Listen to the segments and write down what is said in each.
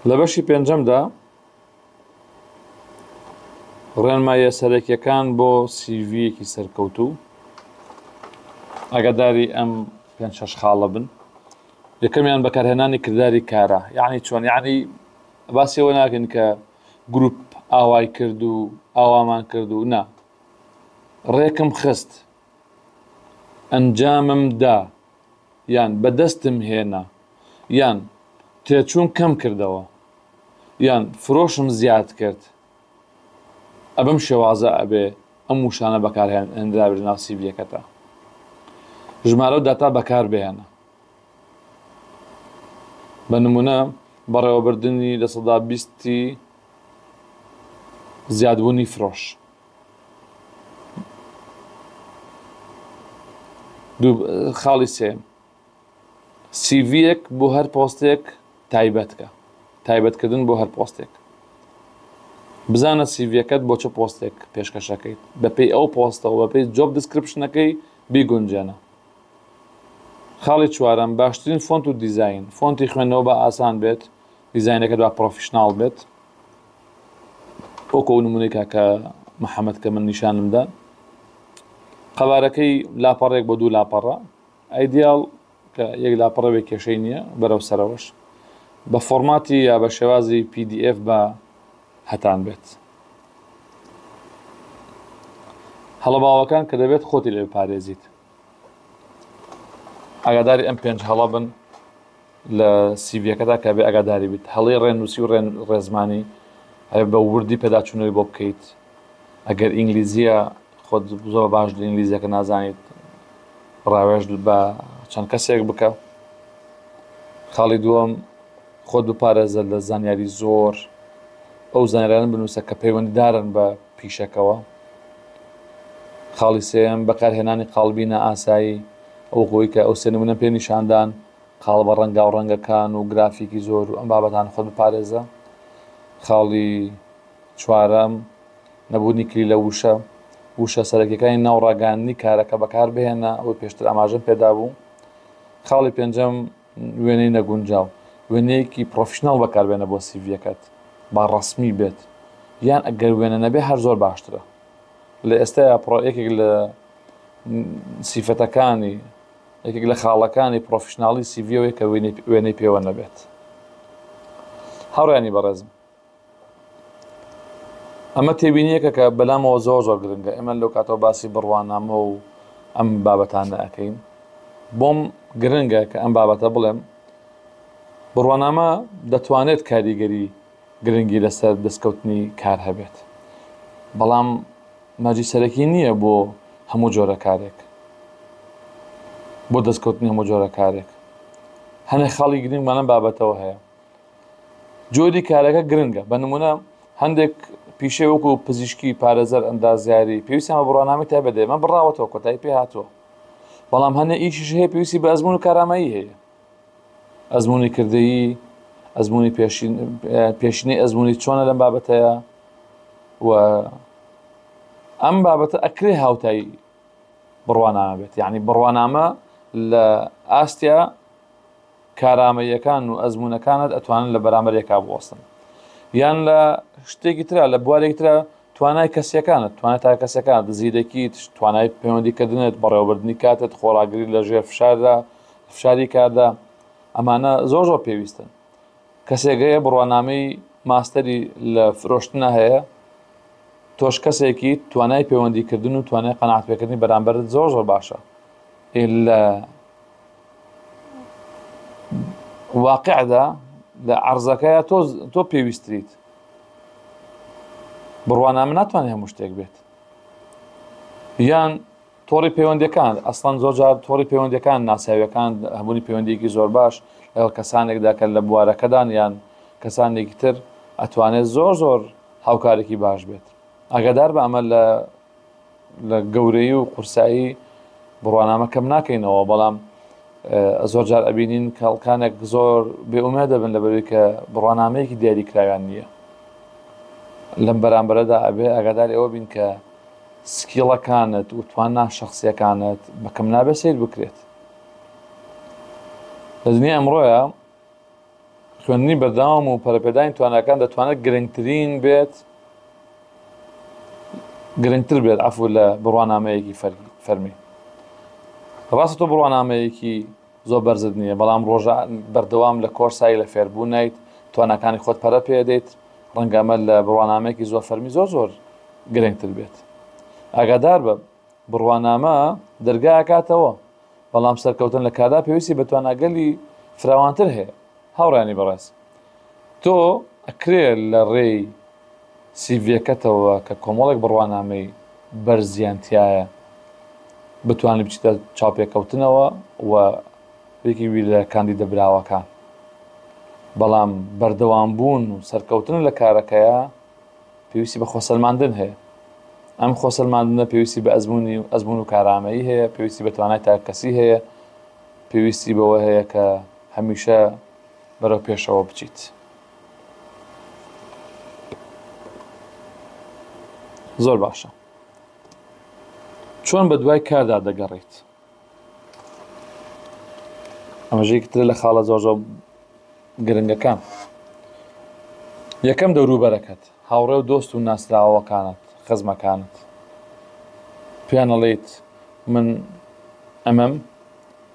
لە بەشی پێنجەمدا ڕێنمایە سەرەکیەکان بۆ سیڤەکی سەرکەوت و ئەگەداری ئەم پێ شش خاڵە بن یەکەمیان بەکارهێنانی کردداری کارە یعنی چۆن یعنی باسیەوە ناکەن کە گروپ ئاوای کرد و ئاوامان کرد و نا ڕێکم خست ئەنجامم دا یان بەدەستم هێنا یان تێچووم کەم کردەوە یان فرۆشم زیاد کرد ئەبەم شێوازە ئەبێ ئەم وشانە بەکارهێنرابێت لەناو سیڤیەکەتا ژمارە و داتا بەکار بهێنە بە نموونە بەڕێوەبردنی لە سەدا بیستی زیادبوونی فرۆش. خاڵی سێیەم، سیڤییەک بۆ هەر پۆستێک تایبەت کە، تایبەتکردن بۆ هەر پۆستێک. بزانە سیڤییەکەت بۆ چ پۆستێک پێشکەش ئەکەیت، بەپێی ئەو پۆستە و بەپێی جۆب دیسکریپشنەکەی بیگونجێنە. خاڵی چوارەم، باشترین فۆنت و دیزاین، فۆنتی خوێندنەوە با ئاسان بێت، دیزاینەکەت با پڕۆفیشناڵ بێت، وەکو نمونەی کاکە محەممەد کە من نیشانم دا قەبارەکەی لاپەڕێک بۆ دوو لاپەڕە ئایدیال کە یەک لاپەڕەوێک کێشەی نییە بەرەو سەرەوەش بە فۆرماتی یا بە شێوازی PDF بە هەتان بێت هەڵە باوەکان کە دەبێت خۆتی لێ پارێزیت ئاگاداری ئەم پێنج هەڵە بن لە سیڤیەکەدا کە بێ ئاگاداری بیت هەڵی ڕێنووسی و ڕێن ڕێزمانی ئەوێ بە وردی پێداچوونەوەی بۆ بکەیت ئەگەر ئینگلیزیە خۆت زۆر باش لە ئینگلیزیەکە نازانیت ڕاوێژ بە چەند کەسێک بکە خاڵی دووەم خۆت بپارێزە لە زانیاری زۆر ئەو زانران بنووسە کە پەیوەندیدارن بە پیشەکەەوە خاڵی سێیەم، بەکارهێنانی قاڵبی نائاسایی، وەکو ئەوەی کە ئەو سێ نموونەم پێ نیشاندان، قاڵبە ڕەنگاو ڕەنگەکان و گرافیکی زۆر و ئەم بابەتانە خۆت بپارێزە. خاڵی چوارەم، نەبوونی کلیلە وشە، وشە سەرەکییەکانی ناو ڕاگەیاندنی کارەکە بەکاربهێنە، ئەوەی پێشتر ئاماژەم پێدابوو. خاڵی پێنجەم، وێنەی نەگونجاو، وێنەیەکی پڕۆفیشناڵ بەکاربێنە بۆ سیڤییەکەت با ڕەسمی بێت یان ئەگەر وێنە نەبێت هەر زۆر باشترە لە ئێستایا پڕۆ یەکێک لە سیفەتەکانی یەکێک لە خاڵەکانی پڕۆفیشناڵی سیڤیەوەی کە وێنەی پێوە نەبێت هاوڕێیانی بەڕێزم ئەمە تێبینیەکە کە بەلامەوە زۆر زۆر گرنگە ئێمە لەو کاتەوە باسی بڕوانامە و ئەم بابەتانە ئەەکەین بۆم گرنگە کە ئەم بابەتە بڵێم بڕوانامە دەتوانێت کاریگەری گرنگی لەسەر دەستکەوتنی کار هەبێت بەڵام مەجی سەرەکی نییە بۆ هەموو جۆرە کارێک بۆ دەستکەوتنی هەموو جۆرە کارێک هەنێ خاڵی گرنگمانە بابەتەوە هەیە جۆری کارەکە گرنگە، بە نموونە هەندێک پیشەی وەکو پزیشکی، پارێزەر، ئەندازیاری پێویستیان بە بڕوانامەی تایبەت دەبێت، ئەمە بڕاوەتەوە کۆتایی پێ هاتووە، بەڵام هەنێ ئیشیش هەیە پێویستی بە ئەزموون و کارامایی هەیە، ئەزموونی کردەیی، ئەزموونی پێشین پێشینەی ئەزموونی چۆنە لەم بابەتەیە و ئەم بابەتە ئەکرێ هاوتایی بڕوانامە بێت یعنی بڕوانامە لە ئاستیا کارامەییەکان و ئەزموونەکانت ئەتوانن لە بەرامبەرێکا بوەستن یان لە شتێکی ترا لە بوارێک ترا توانای کەسیەکانت توانای تا کەسەکانت زیرەکیت توانای پەیوەندیکردنت بەڕێوەبردنی کاتت خۆڕاگری لە ژێر فشاردا فشاری کاردا ئەمانە زۆر زۆر پێویستن کەسێک هەیە بڕوانامەی ماستەری لە فرۆشتنە هەیە تۆش کەسێکی توانای پەیوەندیکردن و توانای قەنعاتپێکردنی بەرامبەرت زۆر زۆر باشە لە واقعدا لە عەرزەکەیا تۆ تۆ پێویستریت بڕوانامە ناتوانێت هەموو شتێک بێت یان تۆڕی پەیوەندەکان ئەسڵەن زۆرجار تۆڕی پەیوەندەکان ناساویەکان هەمووی پەیوەندێکی زۆر باش لەگەڵ کەسانێکدا کە لە بوارەکەدان یان کەسانێکی تر ئەتوانێت زۆر زۆر هاوکارێکی باش بێت ئاگادار بە ئەمە لە لە گەورەیی و قورسایی بڕوانامە کەم ناکەینەوە بەڵام زۆر جار ئەبینین کەڵکانێک زۆر بێئومێ دەبن لەبەروی کە بڕوانامەیەکی دیاری کراویان نییە لەم بەرامبەرەدا ئەبێ ئەگادار ئەوە بین کە سکیڵەکانت و تواننا شخصیەکانت بەکەم نابێ سیر بکرێت لە دنیا ئەمڕۆیە خوێندنی بەردەوام و پەرەپێدانی تواناکان دەتوانێت گرنگترین بێت گرنگتر بێت عفو لە بڕوانامەیەکی فەرمی ڕاستە تۆ بڕوانامەیەکی زۆر بەرزت نییە بەڵام ڕۆژە بەردەوام لە کۆرسایی لە فێربوو نیت توانەکانی خۆت پەرە پێدەیت ڕەنگەمە لە بڕوانامەیەکی زۆر فەرمی زۆر زۆر گرنگتر بێت ئاگادار بە بڕوانامە دەرگا ئەکاتەوە، بەڵام سەرکەوتن لە کاردا پێویستی بە تواناگەلی فراوانتر هەیە. هاوڕێیانی بەڕێز، تۆ ئەکرێ لە ڕێی سیڤیەکەتەوە کە کۆمەڵێک بڕوانامەی بەرزیان تیایە بتوانی بچیتە چاوپێکەوتنەوە و یەکێک بی لە کاندیدە براوەکان. بەڵام بەردەوامبوون و سەرکەوتن لە کارەکەیا، پێویستی بە خۆسەلماندن هەیە، ئەم خۆسەلماندنە پێویستی بە ئەزمونی و ئەزمون و کارامەیی هەیە، پێویستی بە توانای تاکەکەسی هەیە، پێویستی بەوە هەیە کە هەمیشە بەرەو پێشەوە بچیت. زۆر باشە چۆن بە دوای کاردا دەگەڕێیت؟ ئەمەش یەکێکی ترە لە خاڵە زۆر زۆر گرنگەکان یەکەم دەوروبەرەکەت هاوڕێ و دۆست و ناسراوەکانت خزمەکانت پێیانەڵیت من ئەمەم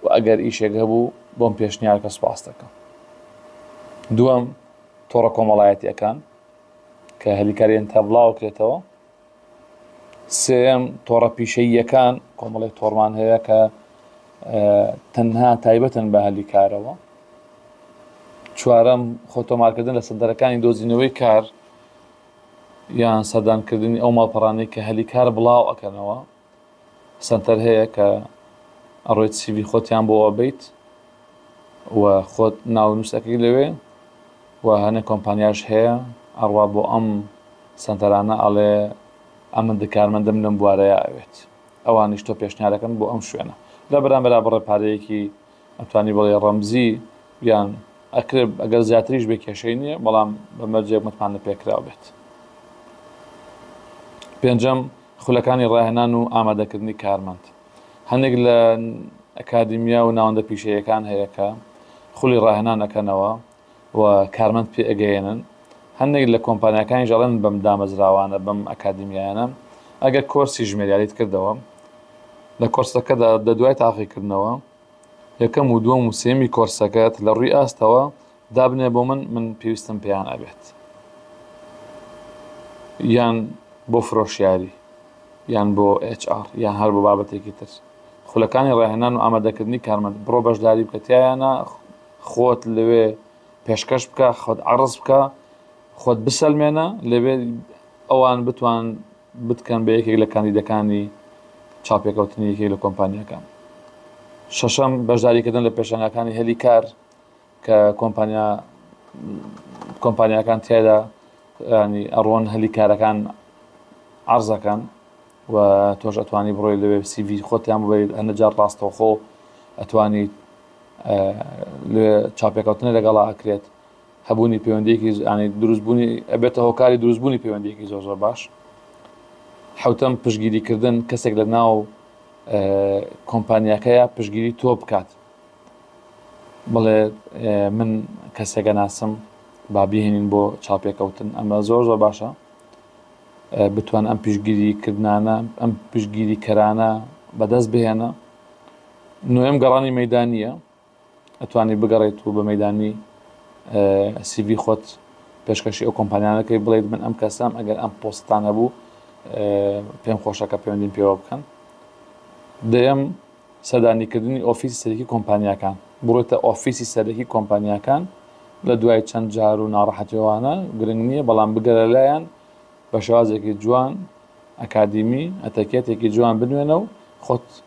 و ئەگەر ئیشێک هەبوو بۆم پێشنیارکە سوپاس دەکەم دووەم تۆڕە کۆمەڵایەتیەکان کە هەلیکاریان تا بڵاوکرێتەوە سێیەم، تۆڕە پیشەییەکان، کۆمەڵێک تۆڕمان هەیە کە تەنها تایبەتن بە هەلی کارەوە. چوارەم، خۆتۆمارکردن لە سەنتەرەکانی دۆزینەوەی کار یان سەردانکردنی ئەو ماڵپەڕانەی کە هەلی کار بڵاو ئەکەنەوە. سەنتەر هەیە کە ئەڕۆیت سیڤی خۆتیان بۆ ئەبەیت و خۆت ناونووسەکەی لەوێ و هەنێ کۆمپانیاش هەیە ئەڕوا بۆ ئەم سەنتەرانە ئەڵێ ئەمن دکارمەندم لەم بوارەیە ئەوێت ئەوانیش تۆ پێشنیارەکەن بۆ ئەم شوێنە لە بەرامبەرا بڕێ پارەیەکی ئەتوانی بڵێی ڕەمزی گیان ئەکرێ ئەگەر زیاتریش بێ کێشەی نیە بەڵام بە مەرجێک متمانە پێکراو بێت پێنجەم خولەکانی ڕاهێنان و ئامادەکردنی کارمەند هەندێک لە ئەکادیمیا و ناوەندە پیشەیەکان هەیە کە خولی ڕاهێنان ئەکەنەوە و کارمەند پێگەیەنن، هەندێک لە کۆمپانیاکانیش ئەڵێن بەم دامەزراوانە، بەم ئەکادیمیایانە ئەگەر کۆرسی ژمێریاریت کردەوە، لە کۆرسەکەدا لە دوای تاقیکردنەوە یەکەم و دووەم و سێیەمی کۆرسەکەت لە ڕووی ئاستەوە دابنێ بۆ من، من پێویستم پێیان ئەبێت یان بۆ فرۆشیاری یان بۆ ئێچ ئاڕ یان هەر بۆ بابەتێکی تر، خولەکانی ڕاهێنان و ئامادەکردنی کارمەند بڕۆ بەشداری بکە تیایانا. خۆت لەوێ پێشکەش بکە، خۆت عەڕز بکە، خۆت بسەلمێنە، لەوێ ئەوان بتوان بتکەن بە یەکێک لە کاندیدەکانی چاوپێکەوتنی یەکێک لە کۆمپانیاکان. شەشەم، بەشداریکردن لە پێشەنگاکانی هەلی کار کە کۆمپانیا کۆمپانیاکان تیایدا ینی ئەڕۆن هەلی کارەکان عەڕز ئەکەن. و تۆش ئەتوانی بڕۆی لەوێ سی ڤی خۆتیان ببەیت هەندە جار ڕاستەوخۆ ئەتوانیت لێ چاپێکەوتنە لەگەڵا ئەکرێت هەبوونی پەیوەندێکی زانی دروستبوونی ئەبێتە هۆکاری دروستبوونی پەیوەندێکی زۆر زۆر باش حوتم پشگیریکردن کەسێک لە ناو کۆمپانیاکەیە پشگیری تۆ بکات بڵێ من کەسێکە ناسم با بهێنین بۆ چاپێکەوتن ئەمە زۆر زۆر باشە بتوانن ئەم پشتگیریکردنانە، ئەم پشتگیریکەرانە بەدەست بهێنە. نۆیەم گەڕانی مەیدانییە، ئەتوانی بگەڕێیت و بە مەیدانی سیڤی خۆت پێشکەشی ئەو کۆمپانیانەکەی بڵێیت من ئەم کەسەم ئەگەر ئەم پۆستانە بوو پێم خۆشەکە پەیوەندیم پێوە بکەن دەیەم سەردانیکردنی ئۆفیسی سەرەکی کۆمپانیاکان، بڕۆیتە ئۆفیسی سەرەکی کۆمپانیاکان لە دوای چەند جار و ناڕەحەتیەوانە گرنگ نیە بەڵام بگەرە لایان بە شێوازێکی جوان ئەکادیمی ئەتەکێتێکی جوان بنوێنە و خۆت